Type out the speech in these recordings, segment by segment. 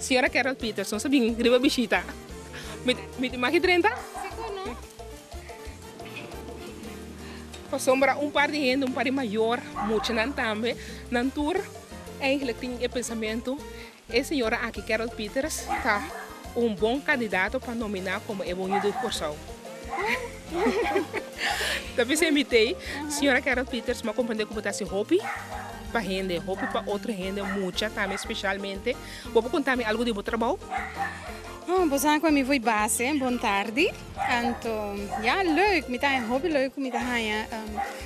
Siñora Carol Peterson sa bin riba bishita. Mi tin maki drenta? Si con no. Pasobra un par di hende, un par di mayor, muchanan tambe, nan tur eigenlijk tin e pensamentu E señora aki Carol Pieters ta un bon candidato pa nominá como e Boño di Kòrsou. Ta bisa e mi t'ey, Señora Carol Pieters, m'a comprende cu bo ta haci hopi pa hende, hopi pa otro hende, mucha tambe especialmente. Bo por contami algo di bo trabou? Oh, bo sa cu ami foi base, bon tardi. Anto, ya, leuk, mi ta haña hopi leuk cu mi ta haña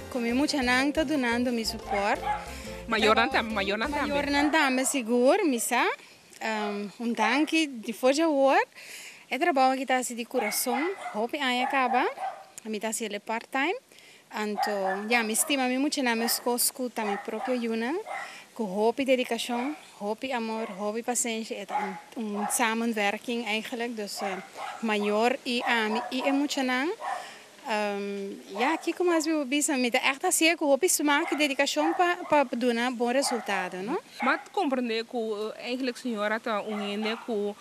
cu mi muchanan ta dunando mi support. Mayornan tambe mayornan tambe. Mayornan tambe sigur mi sa. Un danki di for di awor e trabou aki ta hasi di kurason hopi aña kaba mi ta hasiel e part time anto ya mi stima mi muchanan mes kos ku ta mi propio yunan ku hopi dedikashon hopi amor hopi pasenshi e ta un samen werking eigenlik dus mayor i ami i e muchanan Ya, kiko mas mi por bisa? Mi ta ègt a hasié ku hopi smak i dedikashon pa duna bon resultado, no? M'a komprendé ku einklik señora ta un hende ku,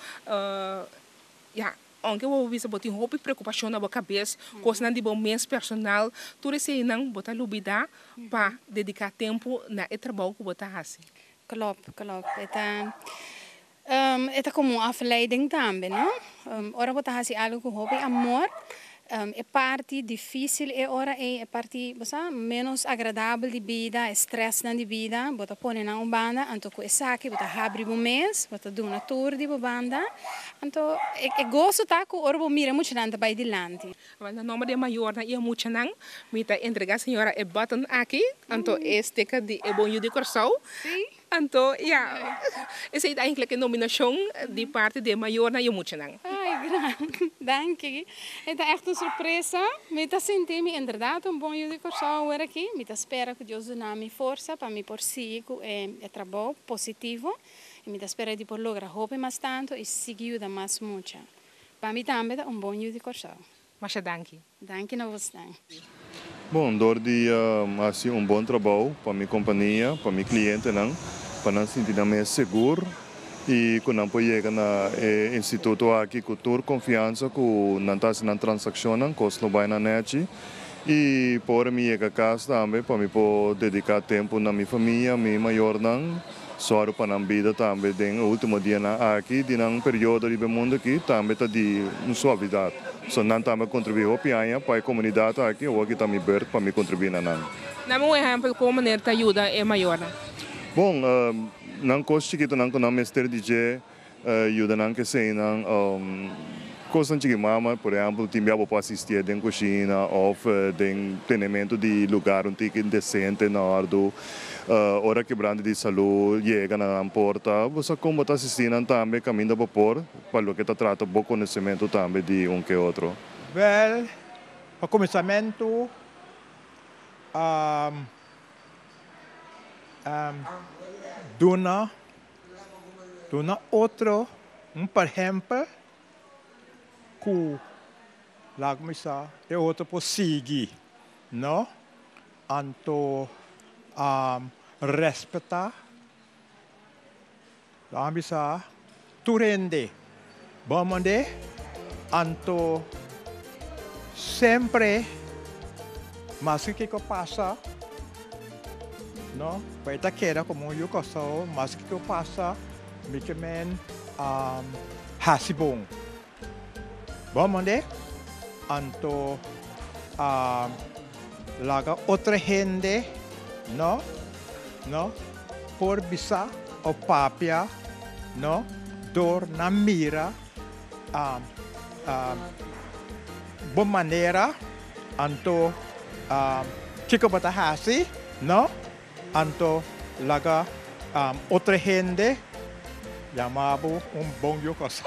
ya, ounke bo por bisa bo tin hopi preokupashon na bo kabes, kosnan di bo mes personal, tur esei einan bo ta lubidá pa dediká tempu na e trabou ku bo ta hasi. Klopt, klopt. E ta. E ta komo un afleiding tambe, no? Ora bo ta hasi algu ku hopi amor, e parti difísil e ora ei, e parti, bo sa, ménos agradabel di bida, e strèsnan di bida, bo ta pone nan un banda, anto ku esaki bo ta habri bo mes, bo ta duna tur di bo banda. Anto, e goso ta ku ora bo mira e muchanan ta bai dilanti. Awan, na nomber di e mayornan i e muchanan, mi ta entregá señora e button aki, anto e sticker di E Bon Yu di Kòrsou. Anto ya esei ta enkele ke nominashon di parti di e mayornan i e muchanan. Ay gran. Danki. E ta ègt un sorpresa. Mi ta sinti mi enderdat un bon yu di Kòrsou awor aki. Mi ta spera ku Dios duna mi forsa pa mi por sigui ku e e trabou positivo i mi ta spera di por logra hopi mas tantu i sigui yuda mas mucha. Pa mi tambe ta un bon yu di Kòrsou. Masha danki. Danki na vos den. Bon, dor di a hasi un bon trabou pa mi kompania, pa mi klientenan, pa nan sinti nan mes segur i ku nan por yega na e instituto aki ku tur konfiansa ku nan ta hasi nan transakshonnan, kos lo bai na nèchi. I pa ora mi yega kas tambe pa mi por dediká tempu na mi famia, mi mayornan. Sòru pa nan bida tambe den e último dianan aki di nan periodo riba e mundu aki tambe ta di un suavidat. So nan tambe a kontribuí hopi aña pa e komunidat aki, awor ki ta mi bert pa mi kontribuí na nan. Dame un ehèmpel kon manera ta yuda e mayornan. Bon, nan kos chikitonan ku nan mester di dje. Yuda nan k'esei nan kosnan chikí mama, por ehèmpel tin bia bo por asistié den kushina òf den tenementu di lugar un tiki desente, en òrdu. Ora kebrante di salú yega na nan porta, bo sa kon bo ta asistí nan tambe kaminda bo por, pa loke ta trata bo konosementu tambe di un ke otro. Wèl, pa kuminsamentu, duna. Duna otro un perhempel ku laga mi sa e otro por sigui, no? Anto a respetá laga mi sa tur hende. Bon monde, anto sempre maske kiko pasa no bay ta keda como un yu Kòrsou, maske kiko pasa mi ke men a hasi bon. Bon monde, anto a laga otro hende no no. por bisa o papia no door nan mira bo manera anto kiko bo ta hasi no anto laga otro hende yama bo un bon yu cosa.